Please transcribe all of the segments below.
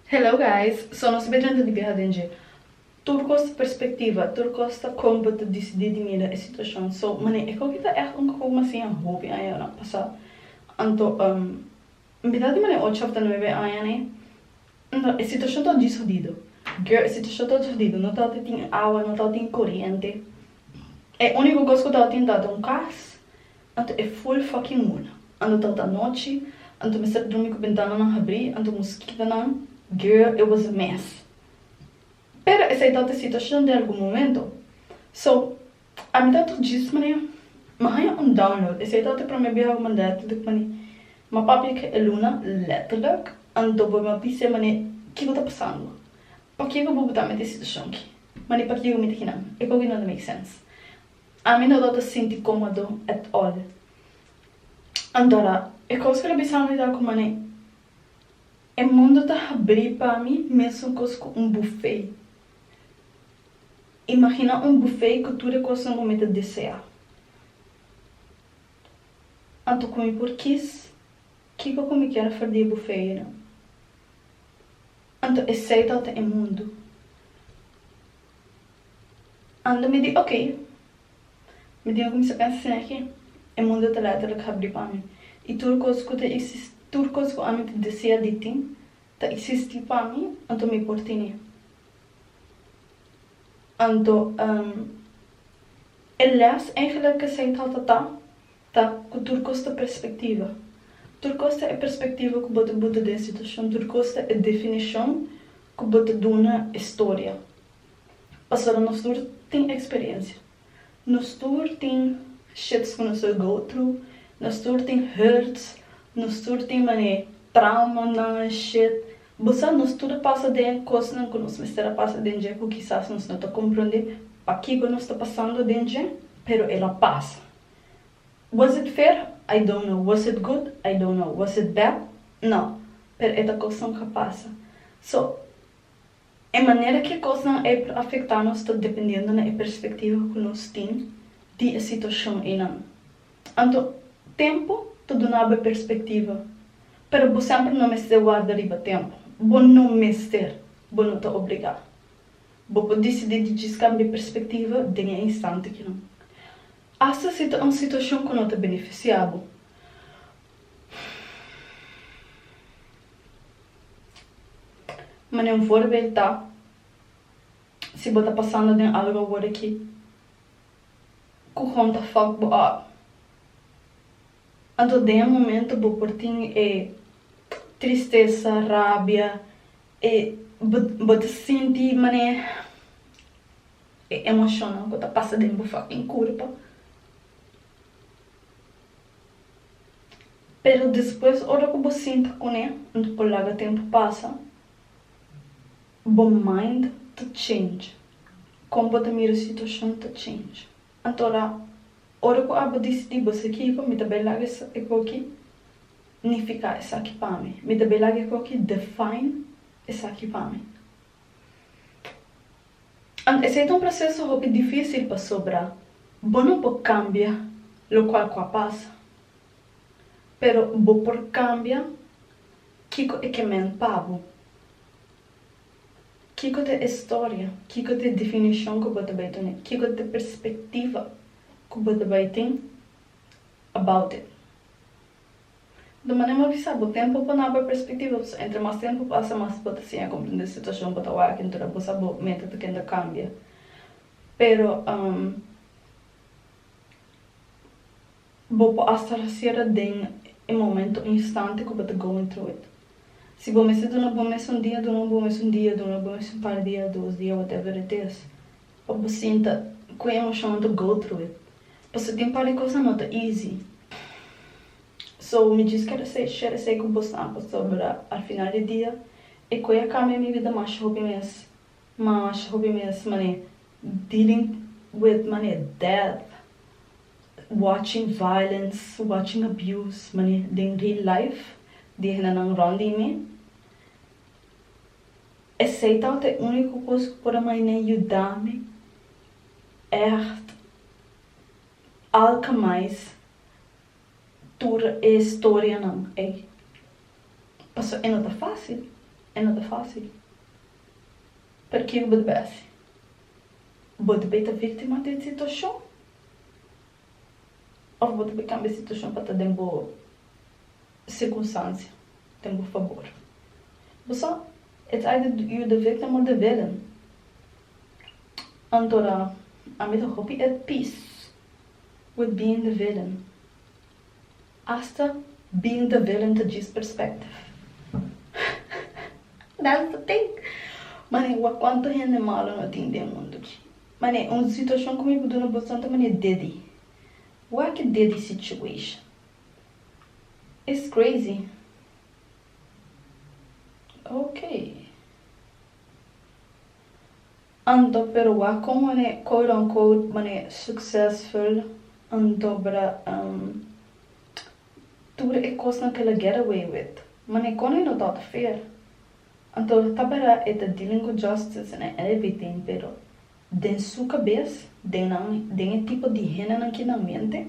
Hello guys so nos be drenta di biaha den dje tur cos ta perspectiva tur cos ta con bo ta dicidi di mira e situacion so mané e coki ta echt un cocom asi a hopi aña na pasa anto um mira di mané ocho of ta nuebe aña ne no e situacion ta djis hodido girl e situacion ta djis hodido no ta tin awa no ta tin coriente e unico cos cu ta tin ta un cas Anto e full fucking mula. Anto ta ta nochi, anto mester drumi cu bentananan habri, anto moskitonan. Girl it was a mess. Pero esai ta ta situacion den algun momento. So, a mi ta ta djis manera, mi haya un download, esai ta ta e prome biaha cu mi a dal tinta cu mi a di, Mi a papia cu e luna, letterlijk, anto bo mi a bisa e manera, kico ta pasando? Pakico bo bo ta mete e situacion aki? Mi a di, Pakico mi ta kinan? E cogi no ta make sense. Ami no lo ta sinti cómodo at all. Antora, e cos cu lo bisa mi ta cu man'é e mundo ta habrí pa mi mesumcos cu un buffet. Imagina un buffet cu tur e cosnan cu mi ta desea. Anto cu mi por kiss kico cu mi kier for di e buffet ayina. Anto esey tabata e mundo. Ando mi di ok. Mi diga ku mi sa pensa sin aki. E mundo ta letterlijk habri pa mi. I tur kos ku ta eksis, tur kos ku ami ta desea di tin, ta eksisti pa mi, anto mi por tene. Anto, ehm, e lès eigenlijk esei tabata ta. Ta ku tur kos ta perspektiva. Tur kos ta e perspektiva ku bo ta buta den situashon. Tur kos ta e definishon ku bo ta duna e storia. Pasobra nos tur tin eksperiensia. Nos tur tin shits ku nos ta go tru. Nos tur tin hurts. Nos tur tin mane traumanan en shit. Bo sa nos tur a pasa den kosnan ku nos mester a pasa den dje ku kisas nos no ta komprondé pakiko nos ta pasando den dje, pero el a pasa. Was it fair? I don't know. Was it good? I don't know. Was it bad? No. Pero e ta kosnan ku a pasa. So, e manera ku e kosnan ei por afektá nos ta dependiendo na e perspektiva ku nos tin di e situashon einan. Anto, tempu ta duna bo e perspektiva. Pero bo semper no mester warda riba tempu. Bo no mester. Bo no ta obligá. Bo por disidí di djis kambia perspektiva den e instante kinan. Asta si ta un situashon ku no ta benefisiá bo. Manera un forbel ta, si bo ta pasando den algu awor ki ku kon ta fòk bo òf, anto den e momento bo por tin e tristesa, rabia, Bo ta sinti manera e emocionnan cu ta pasa den bo fucking curpa. Pero despues ora cu bo sinta cu ne unda por laga tempo pasa, bo mind ta change, con bo ta mira situacion ta change. Atora, ora ku abo disidí basa kiko mi ta bai laga e koki nifiká esaki pa mi. Mi ta bai laga e koki define esaki pa mi. And esei ta un proseso hopi difísil pasobra bo no por kambia lokual ku a pasa. Pero bo por kambia kiko e ke mend pa bo. Kiko ta e storia? Kiko ta e definishon ku bo ta bai tuna? Kiko ta e perspektiva ku bo ta bai tin about it? Do manera mi a bisa bo, tempu pa naba perspektiva, pasobra entre mas tempu pasa mas bo ta siña komprendé situashon ku bo ta wak entura bo sa bo meta ta kende kambia. Pero. Bo por asta rasiera den e momento o instante ku bo ta going through it. Si bo mester duna bo mes un dia, duna bo mes un dia, duna bo mes un par dia, dos dia, whatever it is, pa bo sinta ku e emoshonnan ta go through it. Pasobra tin par di kos nan no ta easy. So, mi djis kere esei, share esei ku bosnan, pasobra al final di dia e ku e a kambia mi vida masha hopi mes, Mash hopi mens mane dealing with mane death, watching violence, watching abuse mane den real life di henanan rond di mi. Esey tabata e unico cos cu por a maine yuda mi echt alchemize tur e historianan ey. Pasobra e no ta facil, e no ta facil. Pero kico bo debe haci? Bo debe ta victima di e situacion? Of bo debe cambia e situacion pa ta den bo circunstancia, den bo fabor? Bo sa, e ta ayuda yu de victim mo de villain. Anto ra, ami ta hopi at peace with being the villain. Asta bin ta velen ta djis perspective. That's the thing. Mane wak cuanto hende malo no tin den mundo chi. Mane un situacion cu mi por duna boso santa mane dedi. Wak dedi situation. It's crazy. Okay. Anto pero wak kon mane quote on quote mane successful anto bra um tur e kosnan ke la get away with mane kon e no ta oto feer anto ta bera e ta dealing with justice and everything pero den su kabes den nan den e tipo di hendenan ki nan mente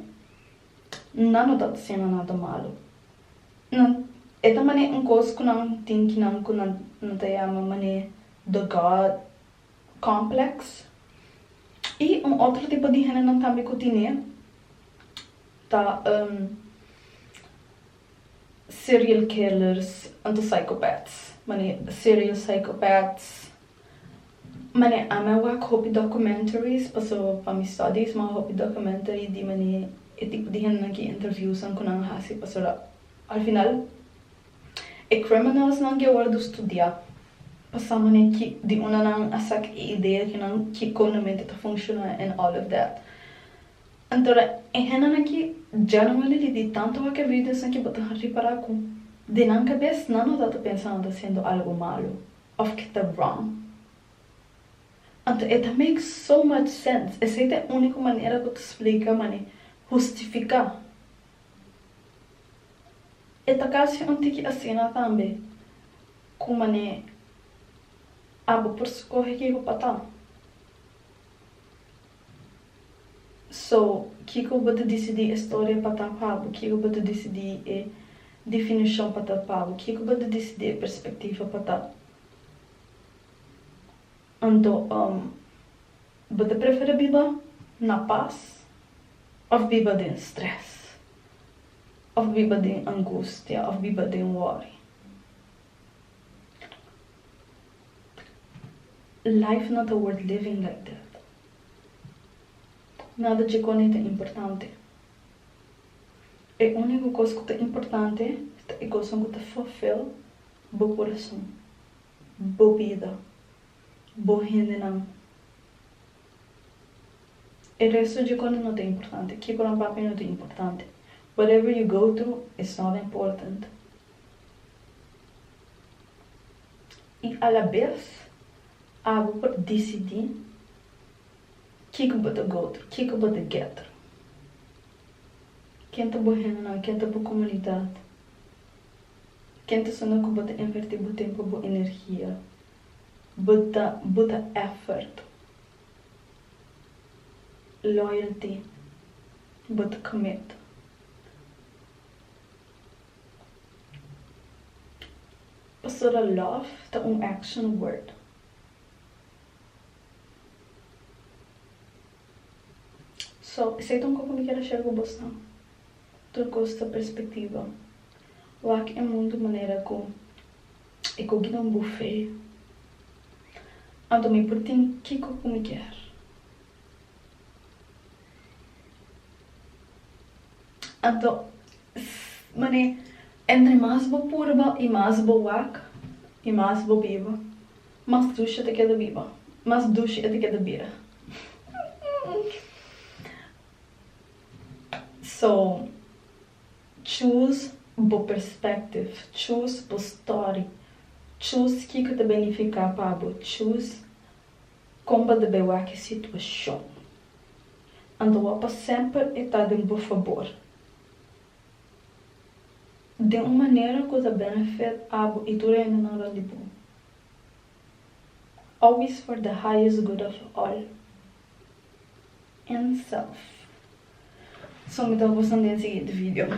nan no ta oto siendo nada malo. No, e ta manera un kos ku nan tin kinan ku nan ta yama manera the God complex. I un otro tipo di hendenan tambe ku tin e ta um serial killers anto psychopaths, manera serial psychopaths. Mane ami a wak hopi documentaries paso pa mi studies ma hopi documentary di mane e tipo di hendenan ki interviewsnan ku nan a hasi paso al final e criminalsnan ke wordu studia pa sa mane ki di unda nan a saka e idea ke nan kiko nan mente ta funciona and all of that antora e hendenan aki dja nan a lidi di tanto wak e videosnan ki bo ta repara ku di nan kabes nan no ta ta pensa nan ta hasiendo algo malo. of ke ta wrong. Anto e ta make so much sense, esei ta e uniko manera ku ta splika mane, hustifiká. E ta kasi un tiki asina tambe ku mane, abo por skohe kiko pa ta. So, kiko bo ta disidí e storia pa ta pa bo? Kiko bo ta disidí e difinushon pa ta pa bo? Kiko bo ta disidí e perspektiva pa ta? Anto, bo ta prefera biba na pas òf biba den strès, òf biba den angustia, òf biba den wòri? Life no ta worth living like that Nada dje kone ta importante E único kos ku ta importante ta e koson ku ta fulfill bo kurason, bo bida, bo hendenan E resto dje kone no ta importante Kiko nan papi no ta importante Whatever you go through it's not important. I alabes abo por disidí kiko bo ta goto, kiko bo ta getter. Ken ta bo hendenan, ken ta bo komunidat, ken ta esonde ku bo ta invertí bo tempu, bo energia, bo ta bo ta effort, loyalty, bo ta commit. Pastora love ta un action word. So, esei ta un kos ku mi kier a share ku bosnan. Tur kos ta perspektiva. Wak e mundu manera ku e koki den bufé. Anto mi por tin kiko ku mi kier. Anto, ss, mane, entre mas bo purba y mas bo wak y mas bo biba, mas dushi e ta keda biba, mas dushi e ta keda bira. So, choose bo perspective, choose bo story, choose kiko ta benifica pa bo, choose. Kon bo ta bay wak e situacion? Anto bo pa semper e ta den bo fabor? Den un manera cu ta benefit abo y tur hendenan rond di bo. Always for the highest good of all. N. Self. So mi ta hopi bo santa den siguiente video.